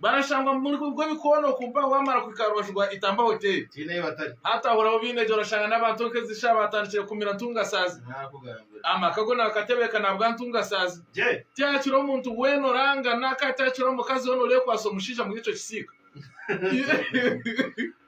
Barashangwa muri kuruga ebikoona oku mpaha waamara kuhika aha rubaju rwa Itamba Hotel. Tihaine ahu batari. Haataahuraho baine gye orashanga n'abantu nka ezi shaaha baatandikire kukumira ntungasaazi. Naakugambira. Amaka go naakatebeeka naabwa ntungasaazi. Gye. Tihakiroho muntu weena orangana, kandi tihakiroho mukazi weena oreekwatsa omushaija omuri ekyo kisiika.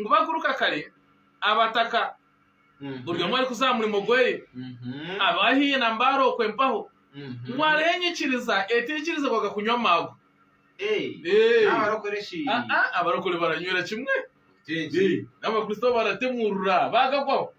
Ngu bakuruka kare abataka buri omwe arikuza aha murimo gweye, ab'aha haihi na mbare okwe mpaho, ngu hariho enyikiriza etaikirizibwaga kunywa amaagwa. Abarokore baranywera kimwe, nabakristo baratemurura bagagwaho.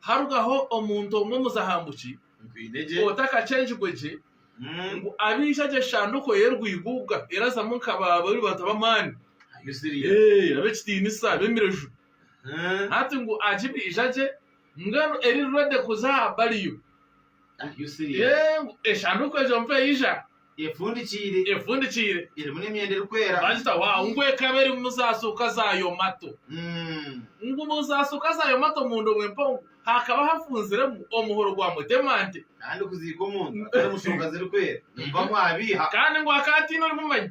Harugaho omuntu omwe omuzahambuki otakakyengirwe gye, ngu abe aija gye Shanduko ye Rwigubwa erazamu nka ba Rubata b'amani, ab'ekitinisa, ab'emireju. Hati ngu agibe ija gye, mbwenu eri ready kuza aha bariyo. Are you serious? Eh, ngu eshanduuko egyo mpa eija Efundikiire. efundikiire Erimu n'emyenda erikwera. bagita waawu ngu ekaba erimu zaasuuka za yomato Mm. ngu mu zaasuuka za yomato munda omu empango hakaba hafunziremu omuhoro gwa mutemante Kandi kuziika omuntu atari mu shonga zirikwera nimubamu abiiha. kandi ngu akaba ataine orimumanyi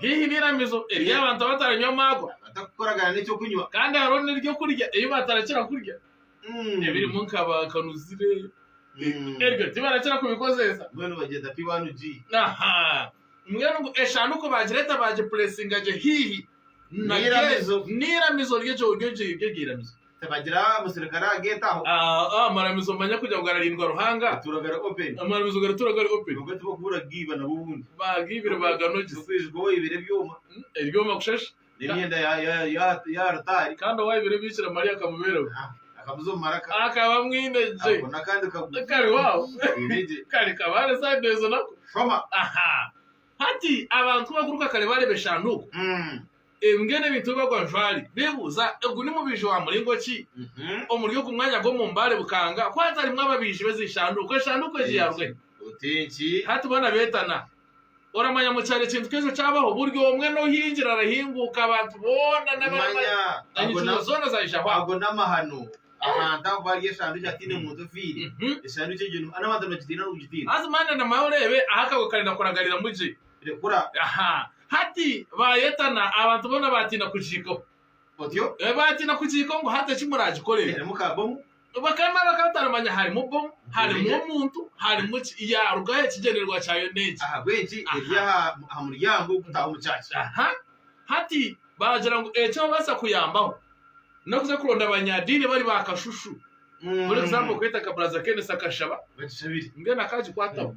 haihi n'eiramizo ery'abantu abataranywa amaagwa, kandi hariho n'eby'okurya ebi batarakira kurya ebirimu nka baakanuzire, ebyo tibarakira kubikozeesa. Mbwenu ngu eshanduuko baagireeta baagipureesinga gye haihi n'eiramizo ry'egyo iramizo. Amaramizo manya kugira ngu gararindwa Ruhanga, amaramizo garitura gari open, baagiibire baaganogyesa, ebyoma kusha shi? Kandi owaaibire ebiikira Mariya akamubeeraho, akaba amwine gye, kariho aho, kare kabaare sande ezo nako. Hati abantu b'abakuruka kare baareeba eshanduuko. Mbwenu ebintu ebi bagwajwari bebuuza, Ogu ni mubaija wa muringo ki omuri ogu mwanya gw'omu mbaare bukanga ku hatarimu ababaiji b'ezi nshanduuko? Enshanduuko egi ya Rwei. Hati boona beetana. Oramanya mukyaro ekintu nk'ekyo kyabaho, buri omwe n'ohingira arahinguuka, abantu boona n'abaramanya enyikizo zoona zaijaho aho. Ago n'amahano ahantu ahu bari eshanduuko hataine muntu ofiire. Eshanduuko egyo ni n'abantu nibagitiina n'okugitiina. Haza manya na manya oreebe ahu akagwe karenda kuragariramu gye. Rekura. Aha. Hati baayetana, abantu boona baatiina kugiikaho. Otyo? Baatiina kugiikaho ngu hati eki muraagikorere. Erimu ka bomu? Bakame bakaba bataramanya harimu bomu, harimu omuntu, harimu ki. Yaaruga aho ekigyendererwa kyayo n'eki. Ahabw'enki eri aha aha muryango ogutaaha omu kyaki? Aha. Hati baagira ngu eki babaasa kuyambaho n'okuza kuronda abanyadiini bari ba kashushu. For example, kweta ka Baraza Kenneth akashaba. Bagishabire. Mbwenu akaagikwataho.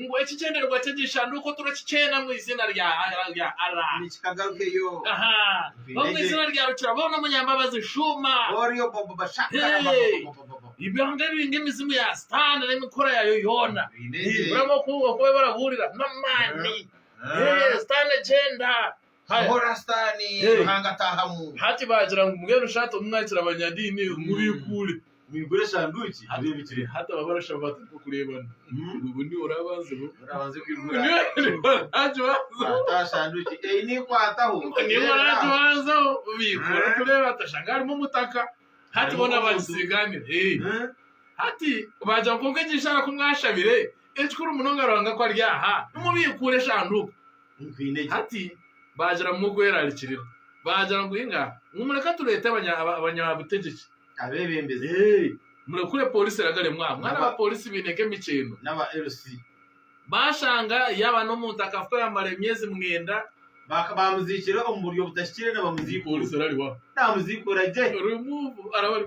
Ngu ekigyendererwa ky'egishanduuko turakikyeena omu iziina rya Allah. Omu iziina rya Rukira boona Omunyambabazi shuuma. Ebyanga ebi ng'emizimu ya Sitaane n'emikura yaayo yoona. Buri omwe oku barikwija barabuurira n'amaani. Sitaane gyenda. Hati baagira ngu mbwenu sha tomumwakira abanyadiini mubiikuure. Hati aba barashaba bata nk'okureebana? Obwo niwe oraabanzeho? Niwe oraagibanzaho? Obiikuura orikureeba ati oshanga harimu omutaka. Hati boona baagisiigaanira. Hati baagira ngu kwonka egi ishaara ku mwashabire, ekikuru munonga Ruhanga ku ari aha, nimubiikuura eshanduuko. nkwiine gye. Hati baagira ngu mugwerarikirira. Baagira ngu inga ngu mureka tureete abanyabitegyeki. Abeebembezi. Eeh. Murekure pooriisi eragare mwaba mwana ba pooriisi baine nk'emikyeeno. N'aba LC. Baashanga yaaba n'omuntu akafa yamara emyezi mwenda. Baka baamuziikire omu buryo butahikire nibamuziikuura. Pooriisi erariho aho. Naamuziikuura gye. Remove araba ari.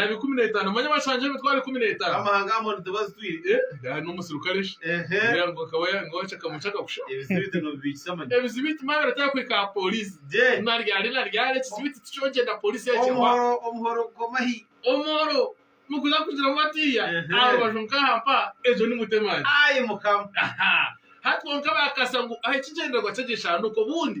Yaaba ikumi n'etaano, manya bashangire emitwaro ikumi n'etaano. Gari n'omuserukare shi? Kugira ngu akaba ya- ngu waca akamwe ky'akakusha. Ebizibiti manya biratera kuhika aha pooriisi. Naryari naryari ekizibiti tikyogyenda pooriisi yakiwa. Omuhoro niguza kugiramu batiiya Ehe. aha rubaju nk'aha mpa egyo ni mutemani. Aha! Hati kwonka baakasa ngu aha ekigyendererwa ky'egi nshanduko obundi.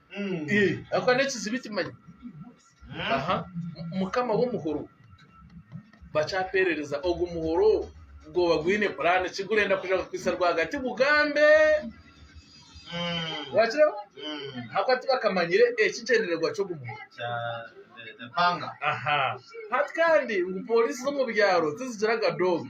Ako n'ekizibiti manya. Aha. Mukama w'omuhoro. Bakyapeerereza ogwo muhoro gwoba gwine puraani ki gurenda kuja kukwitsa rwagati gugambe. Wakireba? Ahabw'okuba tibakamanyire ekigyendererwa ky'ogwo muhoro. Aha. Hati kandi ngu pooriisi z'omu byaro tizigiraga doobi.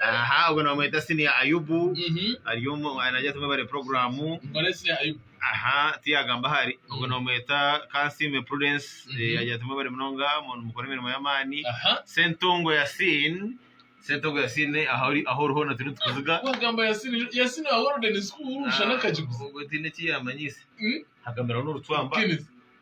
aha ogwo nibamweta senior ayubu Mhm. ari omu nagira tumwe bari programu Mbare siri ayo. aha tiyagamba ahari ogwo nibamweta kansime prudence Mhm. eh, agira tumwe bari munonga mu- mukora emirimo y'amaani Aha. sentongo yasin sentongo yasin aha ori- aho ori hoona turi nitukuziga Wagamba yasini yasini wa golden school ushana akagiguza. ubwo tiine eki yamanyisa Mm. hagamiraho n'orucwamba Kenneth.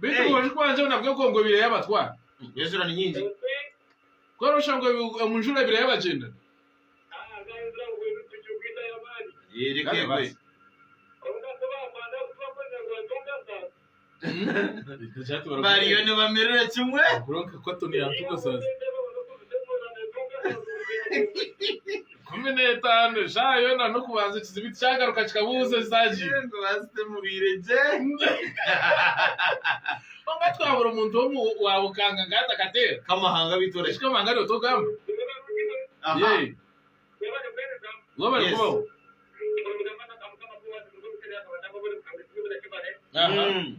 Beitu obwojo bwangye nabwo egongo ebaire yabatwara. Enjura ni nyingi. Kora oshanga omu njura ebaire yabagyendana. Reka egwe. Bariyo nibamirira kimwe. Kwonka Cotton yatugasaza. kumi n'etaano eshaaha yoona n'okubanza ekizibu tikyagaruka kikabuuza ezaagi. Engo baazitemureire gye. Kwonka twabura omuntu omwe waaba okanga nka hati akateera. Kamahanga beitu oraki? Eki kamahanga niwe togamba? Aha. Yee. Ngu bari kubaho. Aha. Mm.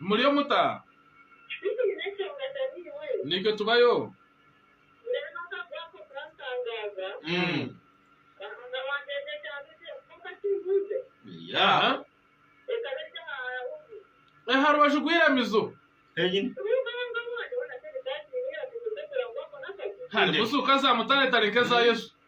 Muriyo muta? Naitwe tubayo. Aha rubaju rw'eiramizo harimu suuka za mutaare tare nk'eza Yesu.